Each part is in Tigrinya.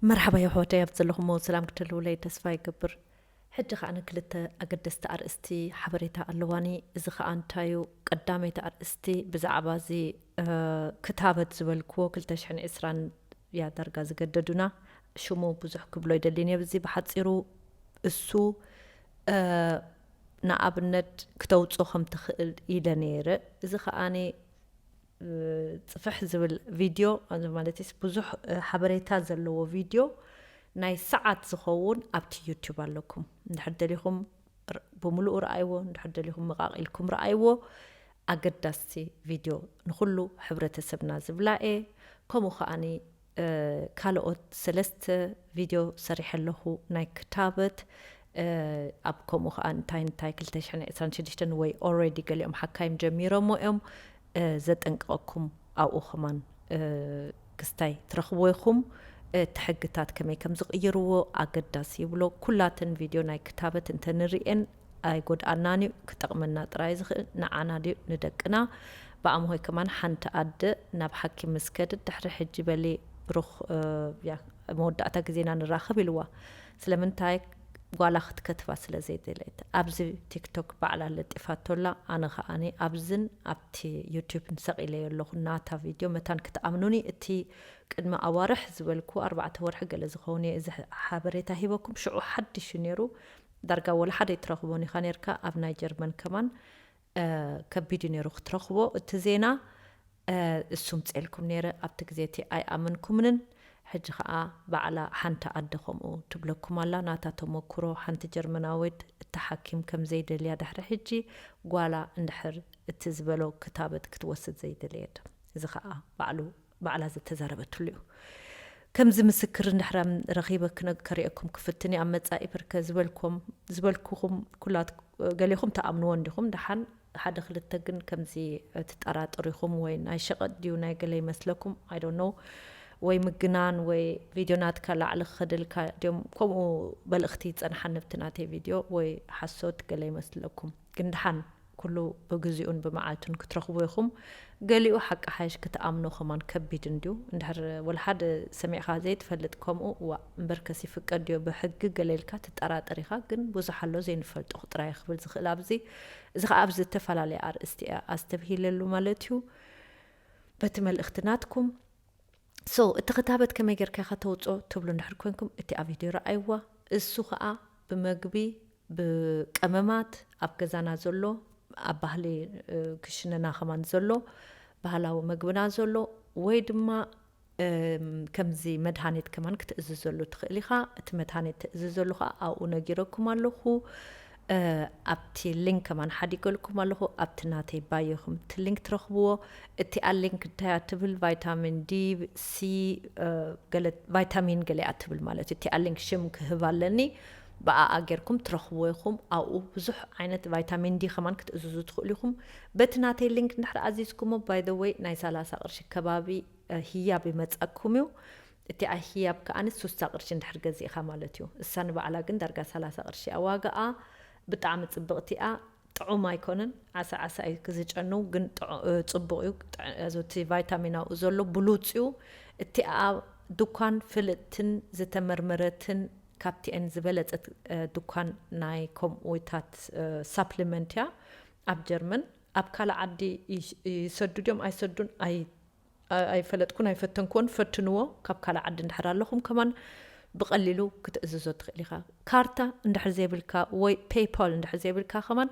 መርሓባ የሕዋተይ ኣብቲ ዘለኹሞ ሰላም ክትህልዉለይ ተስፋ ይገብር ሕጂ ከኣ ክልተ ኣገደስቲ ኣርእስቲ ሓበሬታ ኣለዋኒ እዚ ከኣ እንታይ እዩ ቀዳመይቲ ኣርእስቲ ብዛዕባ እዚ ክታበት ዝበልክዎ ክልተ ሽሕን ዕስራን እያ ዳርጋ ዝገደዱና ሽሙ ብዙሕ ክብሎ ኣይደልን እየ ብዚ ብሓጺሩ እሱ ንኣብነት ክተውጽኦ ከም ትኽእል ኢለ ነይረ እዚ ከኣ ጽፍሕ ዝብል ቪድዮ ማለትስ ብዙሕ ሓበሬታ ዘለዎ ቪድዮ ናይ ሰዓት ዝኸውን ኣብቲ ዩቱብ ኣለኩም እንድሕር ደሊኹም ብምሉኡ ረኣይዎ እንድሕር ደሊኹም መቃቂልኩም ረኣይዎ ኣገዳስቲ ቪድዮ ንኹሉ ሕብረተሰብና ዝብላኤ ከምኡ ከዓኒ ካልኦት ሰለስተ ቪድዮ ሰሪሐ ኣለኹ ናይ ክታበት ኣብ ከምኡ ከኣ እንታይ እንታይ ክልተ ሽሕን ዕስራን ሽዱሽተን ወይ ኦረዲ ገሊኦም ሓካይም ጀሚሮሞ እዮም ዘጠንቅቐኩም ኣብኡ ከማን ክስታይ ትረኽብዎ ኢኹም እቲ ሕግታት ከመይ ከም ዝቕይርዎ ኣገዳሲ ይብሎ ኩላተን ቪድዮ ናይ ክታበት እንተ ንርእየን ኣይጎድኣናን እዩ ክጠቅመና ጥራይ ዝክእል ንዓና ድዩ ንደቅና ብኣምሆይ ከማን ሓንቲ ኣደ ናብ ሓኪም ምስ ከድት ድሕሪ ሕጂ በሊ ብሩክ ኣብ መወዳእታ ግዜና ንራከብ ኢልዋ ስለምንታይ ጓላ ክትከትባ ስለ ዘይደለየት ኣብዚ ቲክቶክ ባዕላ ለጢፋቶ ኣላ ኣነ ከኣኒ ኣብዝን ኣብቲ ዩቱብን ሰቂለዮ ኣለኩ ናታ ቪድዮ መታን ክትኣምኑኒ እቲ ቅድሚ ኣዋርሕ ዝበልኩ ኣርባዕተ ወርሒ ገለ ዝከውን እየ እዚ ሓበሬታ ሂበኩም ሽዑ ሓድሽ እዩ ነይሩ ዳርጋ ወላ ሓደ ኣይትረኽቦን ኢኻ ኔርካ ኣብ ናይ ጀርመን ከማን ከቢድ እዩ ኔሩ ክትረኽቦ እቲ ዜና እሱ ምጼልኩም ኔረ ኣብቲ ግዜ እቲ ኣይኣመንኩምንን ሕጂ ኸኣ ባዕላ ሓንቲ ኣደ ከምኡ ትብለኩም ኣላ ናታ ተመኩሮ ሓንቲ ጀርመናዊት እታ ሓኪም ከም ዘይደልያ ድሕሪ ሕጂ ጓላ እንድሕር እቲ ዝበሎ ክታበት ክትወስድ ዘይደለየት እዚ ኸኣ ባዕሉ ባዕላ ዝተዛረበትሉ እዩ ከምዚ ምስክር እንድሕራ ረኺበ ክነግ ከርእየኩም ክፍትን እየ ኣብ መጻኢ ብርከ ዝበልኩም ዝበልኩኹም ኩላት ገሌኹም ትኣምንዎ እንዲኹም ደሓን ሓደ ክልተ ግን ከምዚ ትጠራጥሩ ኢኹም ወይ ናይ ሸቐጥ ድዩ ናይ ገለ ይመስለኩም ኣይ ዶንት ኖው ወይ ምግናን ወይ ቪድዮ ናትካ ላዕሊ ክኸደልካ ድዮም ከምኡ መልእኽቲ ይጸንሓ ንብቲ ናተይ ቪድዮ ወይ ሓሶት ገለ ይመስለኩም ግን ደሓን ኩሉ ብግዚኡን ብመዓልቱን ክትረኽቡ ኢኹም ገሊኡ ሓቂ ሓይሽ ክትኣምኖ ከማን ከቢድ እንድዩ እንድሕር ወልሓደ ሰሚዕኻ ዘይትፈልጥ ከምኡ ዋእ እምበርከስ ይፍቀድ ድዮ ብሕጊ ገለ ኢልካ ትጠራጠር ኢኻ ግን ብዙሕ ኣሎ ዘይንፈልጦ ጥራይ ክብል ዝኽእል ኣብዚ እዚ ኸኣ ኣብ ዝተፈላለየ ኣርእስቲ እያ ኣስተብሂለሉ ማለት እዩ በቲ መልእኽቲ ናትኩም ሶ እቲ ክታበት ከመይ ጌርካ ኢኻ ተውፅኦ ትብሉ እንድሕር ኮንኩም እቲ ኣብ ቪድዮ ረኣይዋ እሱ ኸኣ ብመግቢ ብቀመማት ኣብ ገዛና ዘሎ ኣብ ባህሊ ክሽነና ከማን ዘሎ ባህላዊ መግብና ዘሎ ወይ ድማ ከምዚ መድሃኒት ከማን ክትእዝዘሉ ትኽእል ኢኻ እቲ መድሃኒት ትእዝዘሉ ኸዓ ኣብኡ ነጊረኩም ኣለኹ ኣብቲ ሊንክ ከማን ሓዲገልኩም ኣለኹ ኣብቲ ናተይ ባዮ ኹም እቲ ሊንክ ትረኽብዎ እቲኣ ሊንክ እንታያ ትብል ቫይታሚን ዲ ሲ ቫይታሚን ገሊኣ ትብል ማለት እዩ እቲኣ ሊንክ ሽም ክህብ ኣለኒ ብኣኣ ጌርኩም ትረኽብዎ ኢኹም። ኣብኡ ብዙሕ ዓይነት ቫይታሚን ዲ ከማን ክትእዝዙ ትኽእሉ ኢኹም። በቲ ናተይ ሊንክ እንድሕር ኣዚዝኩሞ ባይ ዘ ወይ ናይ ሰላሳ ቅርሺ ከባቢ ህያብ ይመጸኩም እዩ። እቲኣ ህያብ ከኣ ሱሳ ቅርሺ እንድሕር ገዚእኻ ማለት እዩ። እሳ ንባዕላ ግን ዳርጋ ሰላሳ ቅርሺ እያ ዋጋኣ። ብጣዕሚ ጽብቕቲ እያ። ጥዑም ኣይኮነን ዓሳ ዓሳ እዩ ዝጨንው ግን ጽቡቕ እዩ እቲ ቫይታሚን ኣብኡ ዘሎ ብሉጽ እዩ። እቲኣ ዱኳን ፍልጥትን ዝተመርመረትን ካብቲኤን ዝበለጸት ዱካን ናይ ከምኡታት ሳፕሊመንት እያ ኣብ ጀርመን ኣብ ካልእ ዓዲ ይሰዱ ድዮም ኣይሰዱን ኣይ ኣይፈለጥኩን ኣይፈተንክዎን ፈትንዎ ካብ ካልእ ዓዲ እንድሕር ኣለኹም ከማን ብቐሊሉ ክትእዝዞ ትኽእል ኢኻ ካርታ እንድሕር ዘይብልካ ወይ ፔይፓል እንድሕር ዘይብልካ ከማን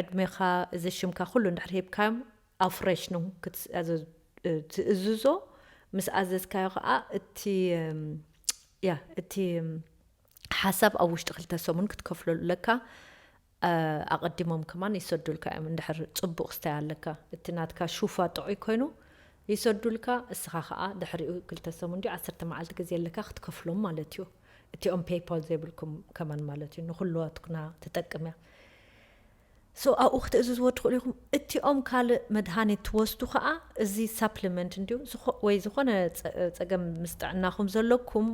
ዕድሜኻ እዚ ሽምካ ኩሉ እንድሕር ሂብካዮም Aufrechnung ትእዝዞ ምስ ኣዘዝካዮ ከኣ እቲ ያ እቲ ሓሳብ ኣብ ውሽጢ ክልተ ሰሙን ክትከፍሎ ኣለካ ኣቐዲሞም ከማን ይሰዱልካ እዮም እንድሕር ጽቡቕ ክስታይ ኣለካ እቲ ናትካ ሹፋ ጥዑይ ኮይኑ ይሰዱልካ እስኻ ከኣ ድሕሪኡ ክልተ ሰሙን ድዩ ዓሰርተ መዓልቲ ግዜ ኣለካ ክትከፍሎም ማለት እዩ እቲኦም ፔይፓል ዘይብልኩም ከማን ማለት እዩ ንኩሉዋትኩና ትጠቅም እያ So ኣብኡ ክትእዝዝዎ ትኽእሉ ኢኹም። እቲኦም ካልእ መድሃኒት ትወስዱ ከኣ እዚ Supplement እንድዩ ዝኮ ወይ ዝኾነ ጸገም ምስ ጥዕናኹም ዘሎኩም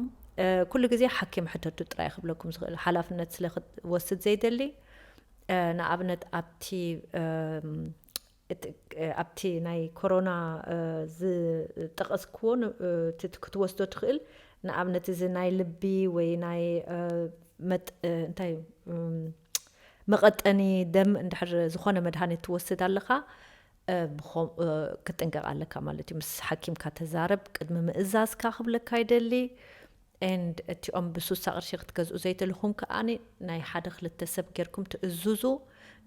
ኩሉ ግዜ ሓኪም ሕተቱ ጥራይ ክብለኩም ዝኽእል ሓላፍነት ስለ ክትወስድ ዘይደሊ ንኣብነት ኣብቲ እቲ ኣብቲ ናይ ኮሮና ዝጠቐስክዎ እቲ ክትወስዶ ትኽእል ንኣብነት እዚ ናይ ልቢ ወይ ናይ እንታይ እዩ መቐጠኒ ደም እንድሕር ዝኾነ መድሃኒት ትወስድ ኣለኻ ክትጥንቀቕ ኣለካ ማለት እዩ። ምስ ሓኪምካ ተዛረብ ቅድሚ ምእዛዝካ ክብለካ ይደሊ። and እቲኦም ብሱሳ ቅርሺ ክትገዝኡ ዘይትልኹም ከኣ ናይ ሓደ ክልተ ሰብ ጌርኩም ትእዙዙ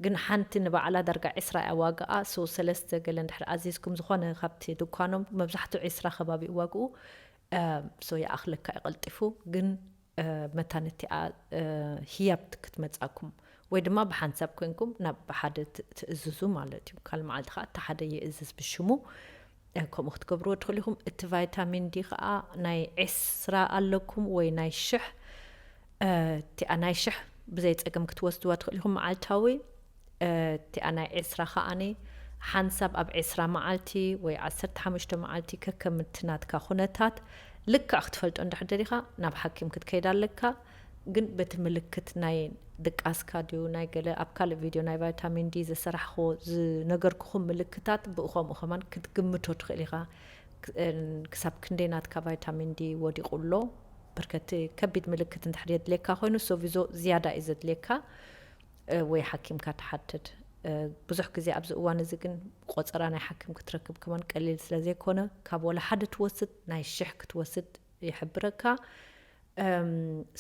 ግን ሓንቲ ንባዕላ ዳርጋ ዕስራ እያ ዋጋኣ so ሰለስተ ገለ እንድሕር ኣዚዝኩም ዝኾነ ካብቲ ድኳኖም መብዛሕትኡ ዕስራ ከባቢ እዩ ዋግኡ so ይኣኽለካ እዩ ቀልጢፉ ግን መታን እቲኣ ህያብ ክትመጻኩም ወይ ድማ ብሓንሳብ ኮንኩም ናብ ሓደ ትእዝዙ ማለት እዩ ካል መዓልቲ ከኣ እቲ ሓደ ይእዝዝ ብሽሙ ከምኡ ክትገብርዎ ትኽእሉ ኢኹም። እቲ ቫይታሚን ዲ ከኣ ናይ ዕስራ ኣለኩም ወይ ናይ ሽሕ እቲኣ ናይ ሽሕ ብዘይ ጸገም ክትወስድዋ ትኽእሉ ኢኹም መዓልታዊ እቲኣ ናይ ዕስራ ከኣኒ ሓንሳብ ኣብ ዕስራ መዓልቲ ወይ ዓሰርተ ሓሙሽተ መዓልቲ ከከም እቲ ናትካ ኩነታት ልክዕ ክትፈልጦ እንድሕር ደሊኻ ናብ ሓኪም ክትከይድ ኣለካ። ግን በቲ ምልክት ናይ ድቃስካ ድዩ ናይ ገለ ኣብ ካልእ ቪድዮ ናይ ቫይታሚን ዲ ዘሰራሕክዎ ዝነገርኩኹም ምልክታት ብኡ ከምኡ ከማን ክትግምቶ ትኽእል ኢኻ ክሳብ ክንደይ ናትካ ቫይታሚን ዲ ወዲቑ ኣሎ ብርከቲ ከቢድ ምልክት እንድሕር የድልየካ ኮይኑ ሶቪዞ ዝያዳ እዩ ዘድልየካ ወይ ሓኪምካ ትሓትት ብዙሕ ግዜ ኣብዚ እዋን እዚ ግን ቆፀራ ናይ ሓኪም ክትረክብ ከማን ቀሊል ስለ ዘይኮነ ካብ ወላ ሓደ ትወስድ ናይ ሽሕ ክትወስድ ይሕብረካ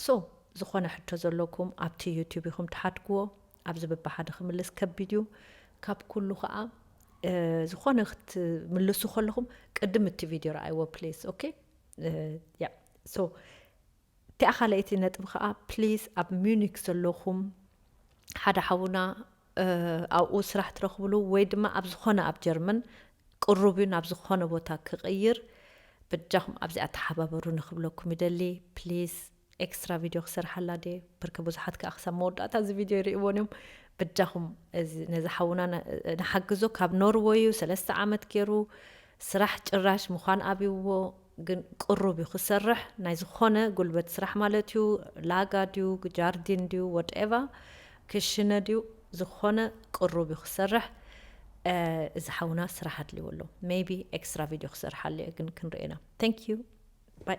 so ዝኾነ ሕቶ ዘለኩም ኣብቲ ዩቲዩብ ኢኹም ትሓድግዎ ኣብዚ በብሓደ ክምልስ ከቢድ እዩ ካብ ኩሉ ከዓ ዝኾነ ክትምልሱ ከለኹም ቅድም እቲ ቪድዮ ረኣይዎ ፕሊስ ኦኬ ያ ሶ እቲኣ ካልኣይቲ ነጥቢ ከዓ ፕሊስ ኣብ ሚዩኒክ ዘለኹም ሓደ ሓውና ኣብኡ ስራሕ ትረኽብሉ ወይ ድማ ኣብ ዝኾነ ኣብ ጀርመን ቅሩብ እዩ ናብ ዝኾነ ቦታ ክቕይር በጃኹም ኣብዚኣ ተሓባበሩኒ ክብለኩም ይደሊ ፕሊስ ኤክስትራ ቪድዮ ክሰርሓላ ድየ ብርከ ብዙሓት ከዓ ክሳብ መወዳእታ እዚ ቪድዮ ይርእይዎን እዮም በጃኹም ነዚ ሓውና ንሓግዞ ካብ ኖርወዩ ሰለስተ ዓመት ገይሩ ስራሕ ጭራሽ ምዃን ኣብይዎ ግን ቅሩብ ዩ ክሰርሕ ናይ ዝኾነ ጉልበት ስራሕ ማለት ዩ ላጋ ድዩ ጃርዲን ድዩ ወድኤቫ ክሽነ ድዩ ዝኾነ ቅሩብ ዩ ክሰርሕ እዚ ሓውና ስራሕ ኣድልዎ ኣሎ ሜይቢ ኤክስትራ ቪድዮ ክሰርሓሉ እየ ግን ክንሪኦ ኢና ቴንክ ዩ ባይ።